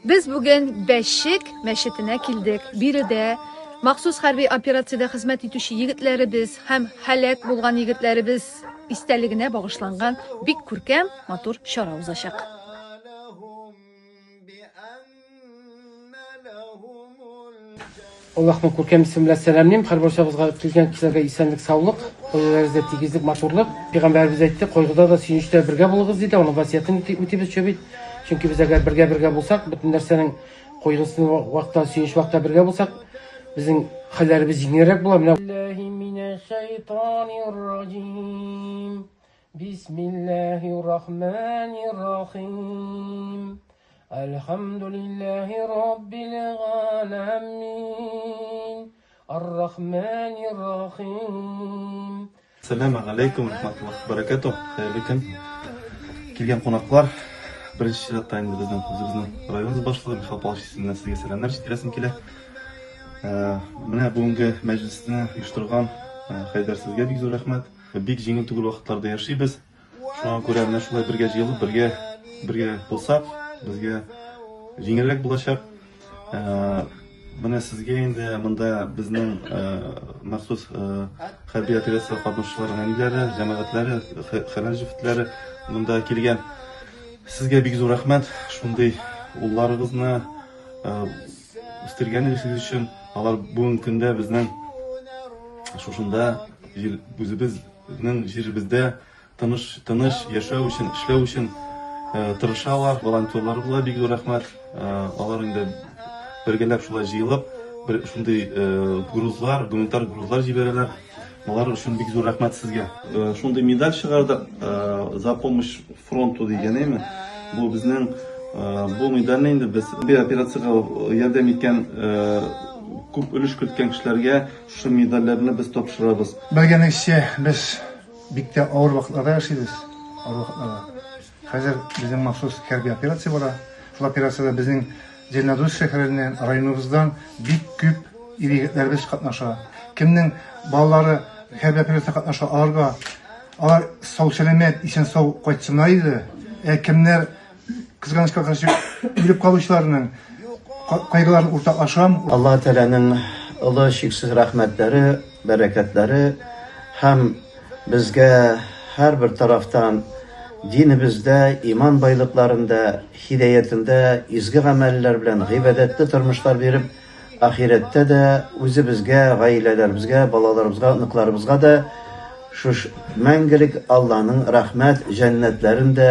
Без бүген Бәшек мәчетенә килдек. Биредә махсус хәрби операциядә хезмәт итүче егетләребез һәм һәлак булган егетләребез истәлегенә багышланган бик күркәм, матур чара узачак. Аллаһның күркәм исеме белән сәламлим. Һәрбарчабызга килгән кешеләргә исәнлек, саулык, гаиләләрегездә тигезлек, матурлык. Пәйгамбәребез әйтте, кайгыда да, сөенечтә дә бергә булыгыз, диде. Аның васыятен үтибез чө бит. Чөнки без әгәр бергә-бергә булсак, бөтен нәрсәнең кайгысын вакытта, сөенеч вакытта бергә булсак, безнең хәлләребез җиңелрәк була. Менә Бисмиллаһи рахмани рахим. Әлхәмдүлилләһи раббил галәмин. Ар-рахманир рахим. Сәләмә галәйкүм рахматуллах баракату. Хәерле көн. Килгән кунаклар, беренче чиратта инде безнең үзебезнең район башлыгы Михаил Павлович исеменнән сезгә сәламнәр җиткерәсем килә. Ә, менә бүгенге мәҗлесне оештырган Хәйдәр сезгә бик зур рәхмәт. Бик җиңел түгел вакытларда яшибез. Шуңа күрә менә шулай бергә җыелып, бергә бергә булсак, безгә җиңелрәк булачак. Менә сезгә инде монда безнең махсус хәрби операция катнашучылар әниләре, җәмәгатьләре, хәләл җефетләре монда килгән. Сезгә бик зур рәхмәт, шундый улларыгызны үстергәнегез өчен. Алар бүгенге көндә безнең шушында үзебез Безнең җиребездә тыныш, тыныч яшәү өчен, эшләү өчен тырышалар, волонтерлар була, бик зур рәхмәт. Алар инде бергәләп шулай җыелып, бер шундый грузлар, гуманитар грузлар җибәрәләр. Алар өчен бик зур рәхмәт сезгә. Шундый медаль чыгардык, за помощь фронту дигәнеме. Бу безнең бу медальне инде без бер операциягә ярдәм иткән күп өлеш керткән кешеләргә Шул медальләрне без тапшырабыз. Белгәнегезчә, без бик тә авыр вакытларда яшибез. Авыр вакытларда. Хәзер безнең махсус хәрби операция бара. Шул операциядә безнең Зеленодольск шәһәреннән, районыбыздан бик күп ир-егетләребез катнаша. Кемнең балалары хәрби операциядә катнаша, аларга алар сау-сәламәт, исән-сау кайтсыннар иде. Ә кемнәр Кызганычка каршы үлеп калучыларның кайгыларын уртаклашам. Алла Тәгаләнең олы чиксез рәхмәтләре, бәрәкәтләре һәм безгә һәрбер тарафтан динебездә, иман байлыкларында, хидәятендә изге гамәлләр белән гыйбадәтле тормышлар биреп, ахирәттә дә үзебезгә, гаиләләребезгә, балаларыбызга, оныкларыбызга да шуш мәңгелек Алланың рәхмәт җәннәтләрен дә